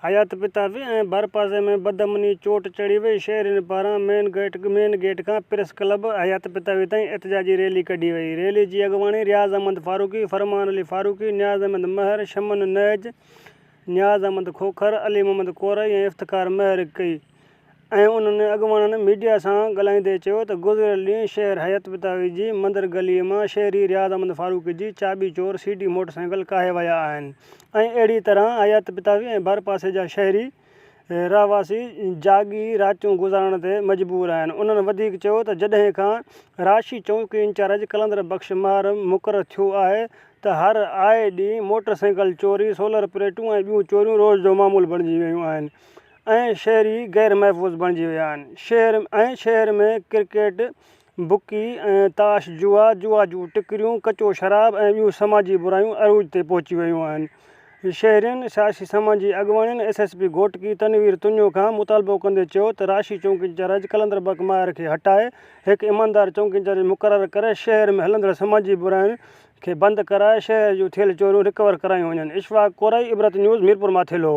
حيات پتافي ۽ ڀرپاسي ۾ بدامني چوٽ چڙهي وئي، شهرين پاران مين گيٽ مين گيٽ کان پريس ڪلب حيات پتافي تائين احتجاجي ريلي ڪڍي وئي، ريلي جي اڳواڻي رياض احمد فاروقي، فرمان علي فاروقي، نياز احمد مهر، شمن نهج، نياز احمد کوکر، علي محمد ڪورائي ۽ افتخار مهر ڪئي. ۽ انهن اڳواڻن ميڊيا سان ڳالهائيندي چيو ته گذريل ڏينهن شهر حيات بتاوي جي مندر گلي مان شهري رياض احمد فاروقي جي چاٻي چور سي ڊي موٽر سائيڪل ڪاهي ويا آهن ۽ اهڙي طرح حيات بتاوي ۽ ڀرپاسي جا شهري رهواسي جاڳي راتيون گذارڻ تي مجبور آهن انهن وڌيڪ چيو ته جڏهن کان رهاشي چوڪي انچارج قلندر بخش مهر مقرر ٿيو آهي ته هر آئي ڏينهن موٽر سائيڪل چوري سولر پليٽون ۽ ٻيون چوريون روز جو معمول بڻجي ويون آهن ۽ شهري غير محفوظ بڻجي ويا آهن شهر ۽ شهر ۾ ڪرڪيٽ بڪي ۽ تاش جوا جوا جون ٽڪريون ڪچو شراب ۽ ٻيون سماجي برايون عروج تي پهچي ويون آهن شهرين سياسي سماجي اڳواڻن S S P Ghotki Tanveer Tunio کان مطالبو ڪندي چيو ته راشي چونڪي انچارج قلندر بڪ ماهر کي هٽائي هڪ ايماندار چونڪي انچارج مقرر ڪري شهر ۾ هلندڙ سماجي براين کي بند ڪرائي شهر جون ٿيل چوريون رڪور ڪرايون وڃن اشفاق ڪورائي عبرت نيوز ميرپورماٿيلو.